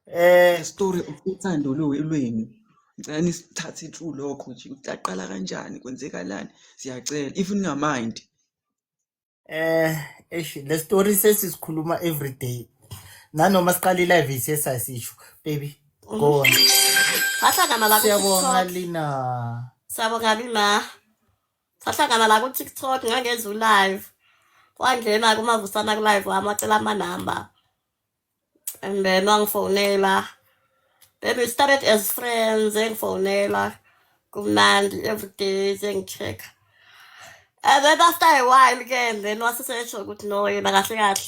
Eh story uthando lwenu. Ngicela nisithathe through lokho nje ukuthi aqala kanjani kwenzekalani siyacela if ningamind. Eh eish le story sesisikhuluma every day. Nanoma siqala i-live isiye sasisho baby go on. Bahlangana la ku Siyabonga TikTok. Lina. Siyabonga mina. sahlangana la ku-tiktok ngangenza u-live wangena kumavusana ku-live wami wacela amanamba and then wangifonela then we started as friends engifonela kumnandi everyday sengi-check-a and then after a while ke then wasesesho ukuthi no yena kahle kahle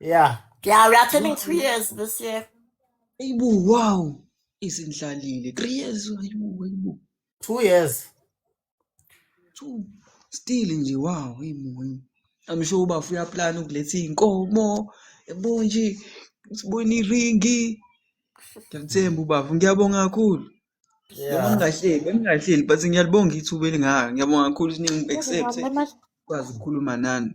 Yeah. Yeah, we are turning three years this year. Ayibo, wow. Izindlalile. Three years. Ayibo, ayibo. Two years. Two. Still nje, wow. Ayibo, ayibo. I'm sure uba uya plan ukuletha iy'nkomo. Yabo nje. Sibona iringi. Ngiyathemba ubaba. Ngiyabonga kakhulu. Yeah. Bengingahleli, bengingahleli but ngiyalibonga ithuba elingaka. Ngiyabonga kakhulu ukuthi ningi-accept. Kwazi ukukhuluma nani.